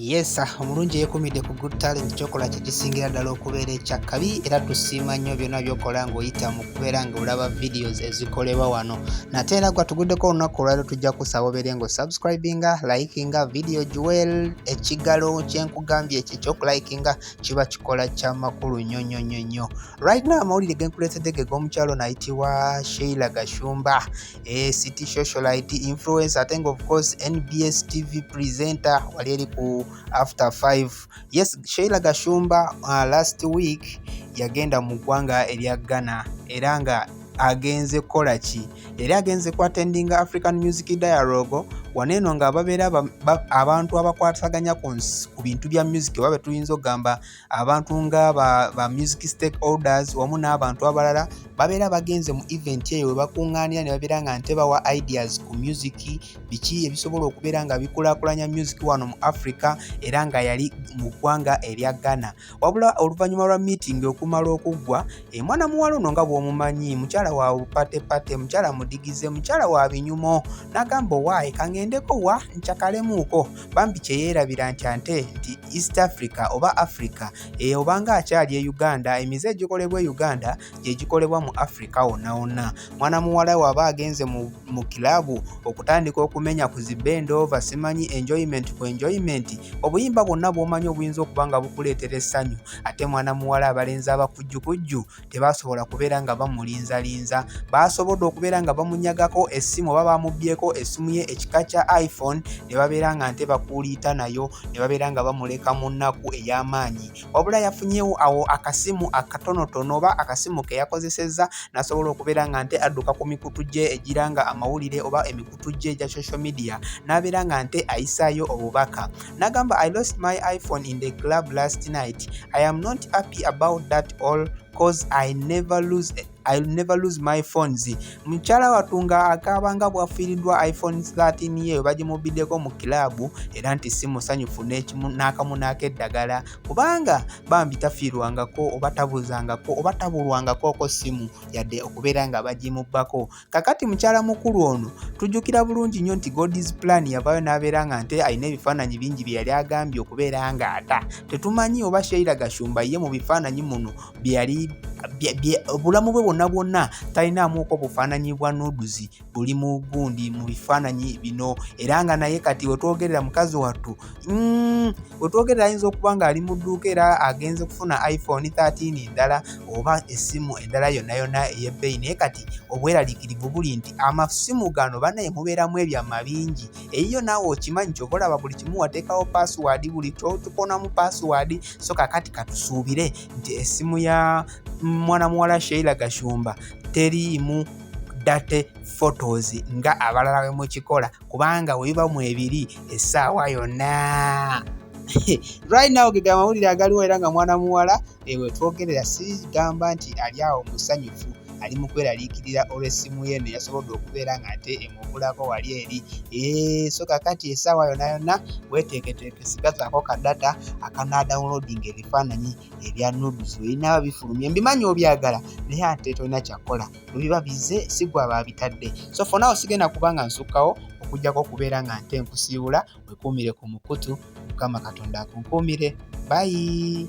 Yes, ah, omulungi eyekumidde ku Good Talent kyokola kyekisingira ddala okubeera ekyakkabi era tusiima nnyo byonna byokola ng'oyita mu kubeera ng'olaba videos ezikolebwa wano nate era gwa tuguddeko olunaku olwaliro tujja kusaba obeere ng'osubscribinga likinga video jewel ekigalo kyenku nkugambye ekyo ekyokulayikinga kiba kikola kya makulu nnyo nnyo nnyo nnyo right now amawulire ge nkuleetedde ge g'omukyalo nayitibwa sheila gashumba e city socialite influence ate nga ofcourse nbs tv presenter wali eri ku after 5 yes sheila gashumba uh, last week yagenda mu ggwanga erya ghana era nga agenze kukola ki yali agenze ku attending African Music Dialogue wano eno nga babeera abantu abakwasaganya ku bintu bya music oba betuyinza okugamba abantu nga ba music stakeholders wamu n'abantu abalala babeera bagenze mu event eyo webakunganira ne babeera nga nte bawa ideas ku music biki ebisobola okubeera nga bikulakulanya music wano mu Africa era nga yali mu ggwanga erya Ghana. wabula oluvannyuma lwa miitingi okumala okuggwa emwana muwala ono nga bw'omumanyi mukyala wa patepate mukyala mudigize mukyala wa binyumo n'agamba owaayi kang'endeko wa nkyakalemuuko bambi kye yeerabira nti ante nti east africa oba africa eyo obanga akyali e uganda emize egikolebwa e uganda gye gikolebwa mu Afrika wonna wonna. Mwana muwala waba agenze mu, mu kilabu okutandika okumenya ku zibend over simanyi enjoyment ku enjoyment, obuyimba bwonna bw'omanyi obuyinza okuba nga bukuleetera essanyu, ate mwana muwala abalenzi abakujjukujju tebaasobola kubeera nga bamulinzalinza. Baasobodde okubeera nga bamunyagako essimu oba baamubyeko essimu ye ekika kya iPhone ne babeera nga nte bakuuliita nayo ne babeera nga bamuleka mu nnaku ey'amaanyi. wabula yafunyewo awo akasimu akatonotono oba akasimu ke yakozesezza n'asobola okubeera nga nte adduka ku mikutu gye egira nga amawulire oba emikutu gye egya social media n'abeera nga nte ayisaayo obubaka n'agamba i lost my iphone in the club last night i am not happy about that all cause i never lose a I'll never lose my phones. Mukyala wattu nga akaaba nga bwafiiriddwa iPhone 13 ye bagimubbiddeko mu kiraabu era nti si musanyufu n'akamu n'akeddagala kubanga bambi tafiirwangako oba tabuzangako oba tabulwangakooko ssimu yadde okubeera nga bagimubbako. Kakati mukyala mukulu ono tujjukira bulungi nnyo nti God's plan yavaayo n'abeera nga nte alina ebifaananyi bingi bye yali agambye okubeera ng'ata. Tetumanyi oba Sheila Gashumba ye mu bifaananyi muno byeyali obulamu bwe bwonna bwonna talinaamuuko bufaananyi bwa nuduzi buli mu gundi mu bifaananyi bino era nga naye kati wetwogerera mukazi wattu mm, wetwogerera ayinza okuba ng'ali mu dduuka era agenze kufuna iphone 13 endala oba essimu endala yonna yonna ey'ebbeeyi naye kati obweraliikirivu buli nti amasimu gano banaye mubeeramu ebyama bingi eyiyo naawe okimanyi kyova olaba buli kimu wateekawo paasiwaadi buli kyotukonamu paasiwaadi so kakati katusuubire nti essimu ya mwana muwala sheila gashumba teriimu date photos nga abalala bwe mukikola kubanga webiba mu ebiri essaawa yonna right now gega amawulire agaliwo era nga mwana muwala Ewe twogerera sigamba nti ali awo musanyufu ali mu kweraliikirira olw'essimu ye eno yasobodde okubeera ng'ate emubulako wali eri so kakati essaawa yona yonna weteeketeeke sigazaako ka data akanaadawunloadinga ebifaananyi ebya nudus weyinaba bifulumye mbimanyi obyagala naye ate tolina kyakkola webiba bize sigwa baabitadde so fonawo sigenda kubanga nsukkawo okujjako okubeera nga nte nkusiibula wekuumire ku mukutu mukama katonda akunkuumire bayi